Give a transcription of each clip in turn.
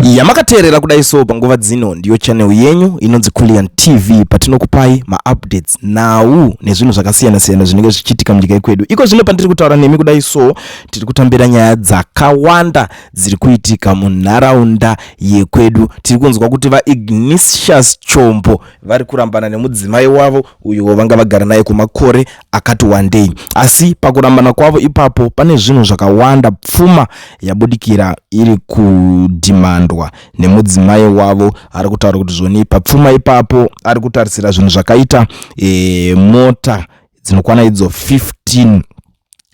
yamakateerera kudai so panguva dzino ndiyo channel yenyu inonzi Kullian TV patinokupai maupdates nhau nezvinhu zvakasiyana siyana zvinenge zvichiitika munyika yekwedu iko zvino pandiri kutaura nemi kudai so tiri kutambira nyaya dzakawanda dziri kuitika munharaunda yekwedu tiri kunzwa kuti vaignisius chombo vari kurambana nemudzimai wavo uyo vanga vagara naye kwemakore akati wandei asi pakurambana kwavo ipapo pane zvinhu zvakawanda pfuma yabudikira iri kudhimandwa nemudzimai wavo ari kutaura kuti zvoni papfuma ipapo ari kutarisira zvinhu zvakaita e, mota dzinokwana idzo 15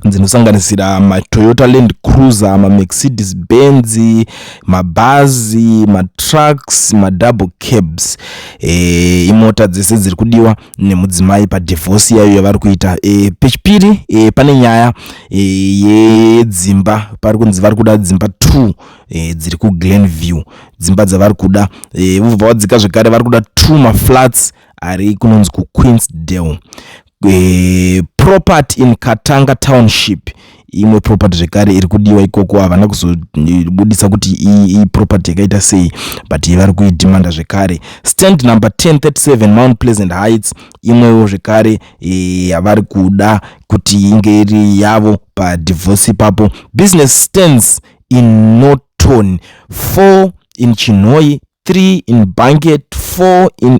dzinosanganisira matoyota land cruiser mamercedes benz mabhazi matrucks madouble cabs e, imota dzese dziri kudiwa nemudzimai padivhosi yayo yavari kuita e, pechipiri e, pane nyaya e, yedzimba pari kunzi vari kuda dzimba two e, dziri kuglen view dzimba dzavari kuda e, vobva vadzika zvekare vari kuda two maflats ari kunonzi kuqueensdale e, property in katanga township imwe property zvekare iri kudiwa ikoko havana kuzobudisa kuti iyi property yakaita sei but yevari kuidhimanda zvekare stand number 1037 mount pleasant heights imwewo zvekare eh, yavari kuda kuti inge iri yavo padivorce ipapo business stands in norton 4 in chinhoi 3 in banket 4 in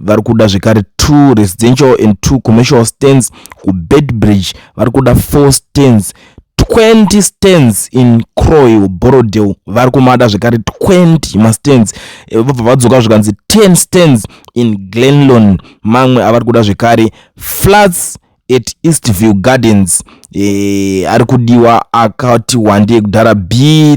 vari kuda zvekare two residential and two commercial stands kubedbridge vari kuda four stands 20 stands in croy borodel vari kumada zvekare 20 mastands eh, vobva vadzoka zvikanzi 10 stands in glenlon mamwe avari kuda zvekare flats at eastview gardens e, ari kudiwa akati wandei kudhara b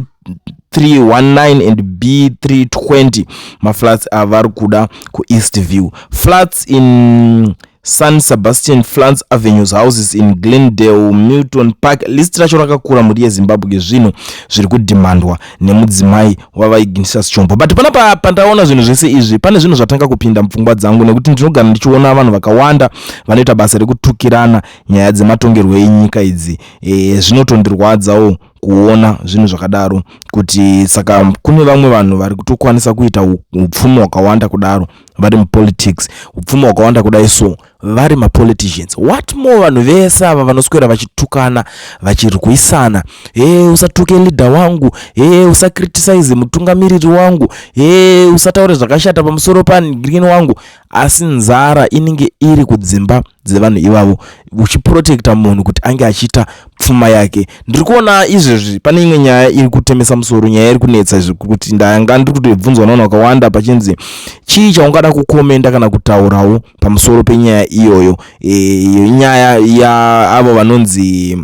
319 and b320 maflats avari kuda kueast view flats in san sebastian flats avenues houses in glendale milton park list racho rakakura mhuri yezimbabwe zvinhu zviri kudhimandwa nemudzimai wavaiginisa sichombo but panapa pandaona zvinhu zvese izvi pane zvinhu zvatanga kupinda mupfungwa dzangu nekuti ndinogara ndichiona vanhu vakawanda vanoita basa rekutukirana nyaya dzematongerwo enyika idzi e, zvinotondirwadzawo kuona zvinhu zvakadaro kuti saka kune vamwe vanhu vari kutokwanisa kuita upfumi hwakawanda kudaro vari mupolitics upfumi hwakawanda kudai so vari mapoliticians what more vanhu vese ava vanoswera vachitukana vachirwisana hee usatuke leader wangu hee usacriticize mutungamiriri wangu hee usataure zvakashata pamusoro pangrini wangu asi nzara inenge iri kudzimba dzevanhu ivavo uchiprotekta munhu kuti ange achiita pfuma yake ndiri kuona izvezvi pane imwe nyaya iri kutemesa musoro nyaya iri kunetsa izvi kuti ndanga ndiri kutobvunzwa navanhu vakawanda pachinzi chii chaungada kukomenda kana kutaurawo pamusoro penyaya iyoyo e, nyaya yaavo vanonzi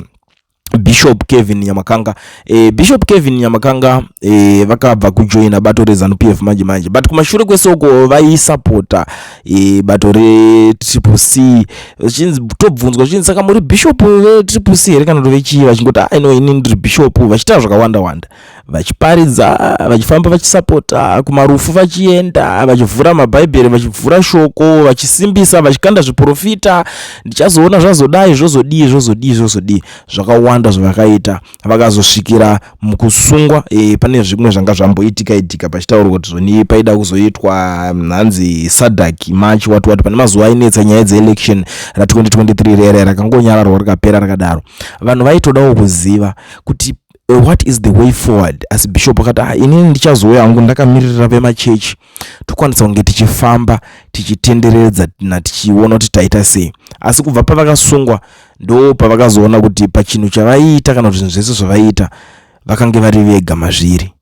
bishop kevin nyamakanga e, bishop kevin nyamakanga e, vakabva kujoina bato rezanup f manje manje but kumashure kwesoko vaisapota e, bato retriple c vachinzi tobvunzwa zvichinzi saka muri bishop vetriple c here kana kuti vechii vachingoti aino ah, ini ndiri bishop vachitaura zvakawanda wanda vachiparidza vachifamba vachisapota kumarufu vachienda vachivhura mabhaibheri vachivhura shoko vachisimbisa vachikanda zviprofita ndichazoona zvazodai zvozodii zvozodii zvozodii zvakawanda zvavakaita vakazosvikira mukusungwa e, pane zvimwe zvanga zvamboitika itika pachitaurwa kuti zvoni paida kuzoitwa mhanzi sadak march wati wati pane mazuva ainetsa nyaya dzeelection ra 2023 rere rakangonyararwa rikapera rakadaro vanhu vaitodawo kuziva kuti Eh, what is the way forward asi bishop akati ah, inini ndichazouya hangu ndakamiririra vemachechi tokwanisa kunge tichifamba tichitenderedza na tichiona kuti taita sei asi kubva pavakasungwa ndo pavakazoona kuti pachinhu chavaiita kana kuti zvinhu zvese zvavaiita vakange vari vega mazviri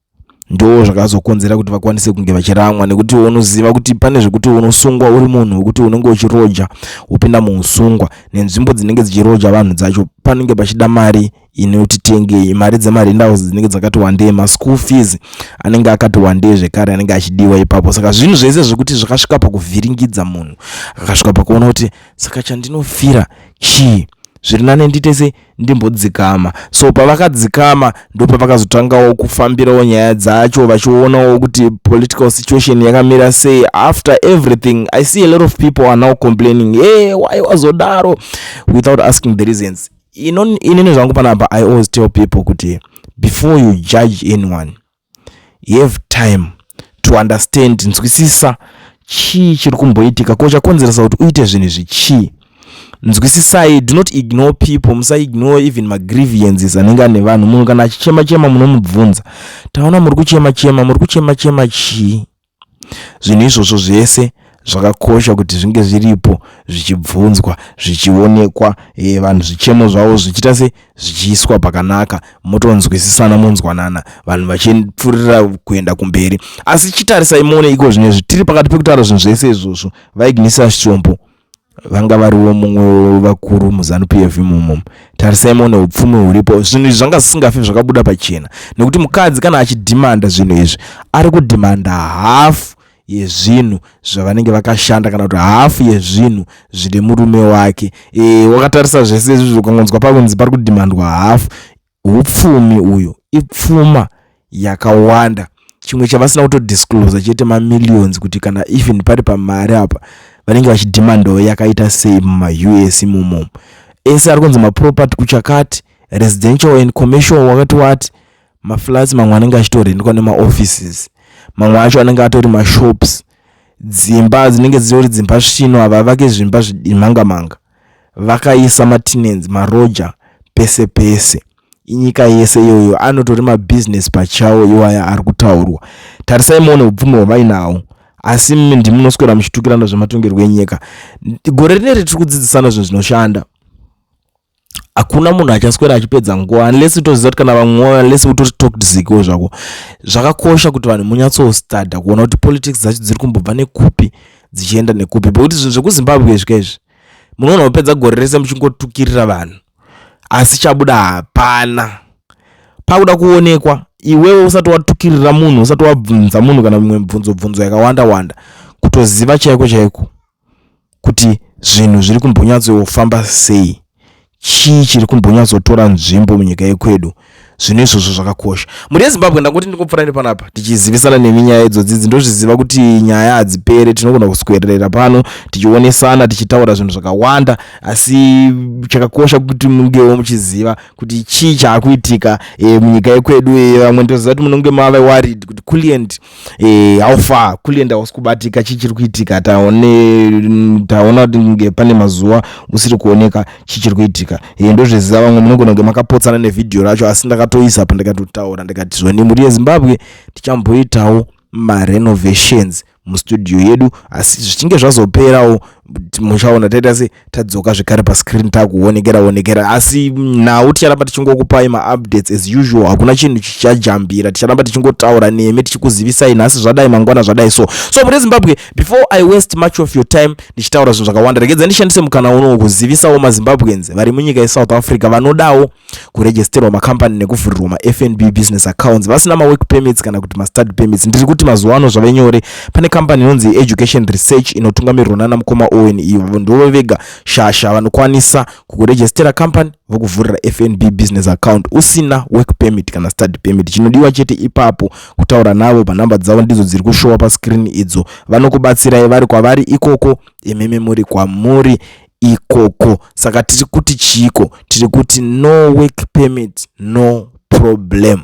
ndoo zvakazokonzera kuti vakwanise kunge vachiramwa nekuti unoziva kuti pane zvekuti unosungwa uri munhu wekuti unenge uchiroja wopinda muusungwa nenzvimbo dzinenge dzichiroja vanhu dzacho panenge pachida mari inoti tengei mari dzemarendaus dzinenge dzakati wandei maschool fees anenge akati wandei zvekare anenge achidiwa ipapo saka zvinhu zvese zvekuti zvakasvika pakuvhiringidza munhu akasvika pakuona kuti saka chandinofira chii zviri nane nditese ndimbodzikama so pavakadzikama ndopavakazotangawo kufambirawo nyaya dzacho vachionawo kuti political situation yakamira sei after everything i see a lot of people are now complaining e hey, why wazodaro without asking the reasons inini zvangu panapa i always tell people kuti before you judge anyone you have time to understand nzwisisa chii chiri kumboitika ko chakonzeresa kuti uite zvinhu izvi chii nzwisisai do not ignore people musaignore even magrievances anenge ane vanhu munhu kana achichema chema munomubvunza taona muri kuchema chema muri kuchema chema chii Zvinhu izvozvo zvese zvakakosha kuti zvinge zviripo zvichibvunzwa zvichionekwa e, vanhu zvichemo zvavo zvichiita se zvichiiswa pakanaka motonzwisisana monzwanana vanhu vachipfuurira kuenda kumberi asi chitarisai muone iko zvino izvi tiri pakati pekutaura zvinhu zvese izvozvo vaignisa shombo vanga variwo mumwe wevakuru muzanu p f imomo tarisai mone upfumi huripo zvinhu izvi zvanga zvisingafi zvakabuda pachena nekuti mukadzi kana achidhimanda zvinhu izvi ari kudhimanda hafu yezvinhu zvavanenge vakashanda kana kuti hafu yezvinhu zvine murume wake e, wakatarisa zvese izvizvo ukangonzwa pakunzi pari kudhimandwa hafu Hupfumi uyu ipfuma yakawanda chimwe chavasina kutodisclosa chete mamillions kuti kana even pari pamari apa vanenge vachidemandawo yakaita sei mumaus imomo ese ari kunzi maproperty kuchakati residential and commercial wakati wati maflats mamwe anenge achitorendwa nemaoffices mamwe acho anenge atori mashops dzimba dzinenge dzitori dzimba svino ava vake zvimba zvidimhangamanga vakaisa matinenzi maroja pese pese inyika yese iyoyo anotori mabhizinesi pachawo iwaya ari kutaurwa tarisai muone upfumi hwavainawo asi mimi ndimunoswera muchitukirana zvematongerwo enyika gore rineri tiri kudzidzisana zvinhu zvinoshanda hakuna munhu achaswera achipedza nguva unless utoziva kuti kana vamwe unless utori toxico zvako zvakakosha kuti vanhu munyatsostadha kuona kuti politics dzacho dziri kumbobva nekupi dzichienda nekupi bekuti zvinhu zvekuzimbabwe zvika izvi munoona kupedza gore rese muchingotukirira vanhu asi chabuda hapana pakuda kuonekwa iwewe usati watukirira munhu usati wabvunza munhu kana mimwe mibvunzo bvunzo yakawanda wanda kutoziva chaiko chaiko kuti zvinhu zviri kumbonyatsofamba sei chii chiri kumbonyatsotora nzvimbo munyika yekwedu zvino izvozvo zvakakosha mhuri yezimbabwe ndangoti ndikopfurai nepanapa tichizivisana nemi nyaya idzodzidzi ndozviziva kuti nyaya hadzipere tinogona kuswererera pano tichionesana tichitaura zvinhu zvakawanda asi chakakosha kuti mungewo muchiziva kuti chii chaakuitika e, munyika yekwedu e, vamwe ndoziva kuti munenge mave warid kuti kulient eh, how far kulenda wasi kubatika chii chiri kuitika taone taona kuti nge pane mazuva usiri kuoneka chii chiri kuitika eh, ndozviziva vamwe munogona kunge makapotsana nevhidhiyo racho asi ndakatoisa pa ndikatotaura ndikati zvoni mhuri yezimbabwe tichamboitawo marenovations mustudio yedu asi zvichinge zvazoperawo muchaona taita se tadzoka zvekare pascreen takuonekera onekera asi nhau ticharamba tichingokupai maupdates as usual hakuna chinhu chichajambira ticharamba tichingotaura nemi tichikuzivisai nhasi zvadai mangwana zvadai so so mune zimbabwe before i waste much of your time ndichitaura zvinhu zvakawanda regedza ndishandise mukana unowo kuzivisawo mazimbabweans vari munyika yesouth africa vanodawo kuregisterwa macompany nekuvhurirwa mafnb business accounts vasina mawork permits kana kuti mastudy permits ndiri kuti mazuva ano zvave nyore pane company inonzi education research inotungamirirwa nana mukoma owen iyo avo ndivo vega shasha vanokwanisa kukuregistera company vokuvhurira fnb business account usina work permit kana study permit chinodiwa chete ipapo kutaura navo panhamba dzavo ndidzo dziri kushowa pascreen idzo vanokubatsirai vari kwavari ikoko imimi muri kwamuri ikoko saka tiri kuti chiiko tiri kuti no work permit no problem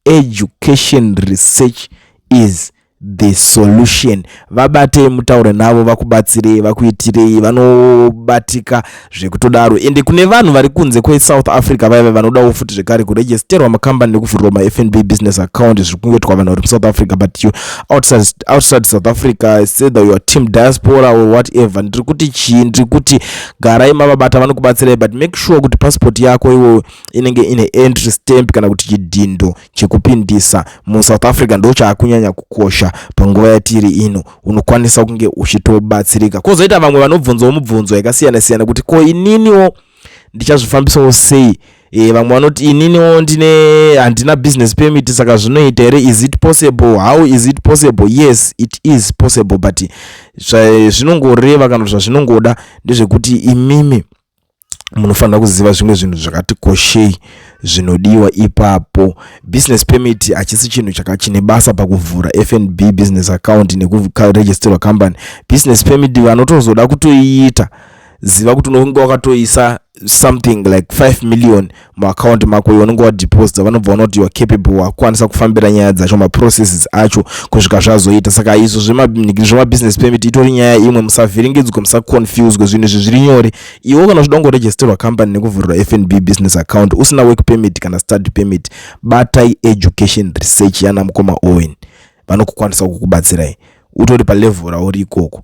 education research is the solution vabatei mutaure navo vakubatsirei vakuitirei vanobatika zvekutodaro ende kune vanhu vari kunze kwesouth africa vaive vanodawo futi zvekare kuregisterwa makambani nekuvhurwa mafnb business account zviri kungoitwa vanhu vari musouth africa but you outside, outside south africa sether your team diaspora or whatever ndiri kuti chii ndiri kuti garai mavabata vanokubatsirai but make sure kuti passport yako iwo inenge ine entry stamp kana kuti chidhindo chekupindisa musouth africa ndo chaakunyanya kukosha panguva yatiri ino unokwanisa kunge uchitobatsirika kwozoita vamwe vanobvunzawo mubvunzo yakasiyana siyana kuti ko ininiwo oh, ndichazvifambisawo sei e, vamwe vanoti ininiwo ndine handina business permit saka zvinoita here is it possible how is it possible yes it is possible but zvinongoreva kana kuti zvazvinongoda ndezvekuti imimi munofanira kuziva zvimwe zvinhu zvakati koshei zvinodiwa ipapo business permit hachisi chinhu chakachine basa pakuvhura fnb business account nekuregisterwa company business permit vanotozoda kutoiita ziva kuti unenge wakatoisa something like 5 million muaccount mako iwe unenge wadeposita vanobva vana kuti youare capable wakukwanisa kufambira nyaya dzacho maprocesses acho kusvika zvazoita saka izvo zvemabusiness permit itori nyaya imwe musavhiringidzwe musaconfuswe zvinhu izvi zviri nyore iwe kana uchida kungoregisterwa company nekuvhurira fnb business account usina work permit kana study permit batai education research yana mukoma owen vanokukwanisa kukubatsirai utori palevel rauri ikoko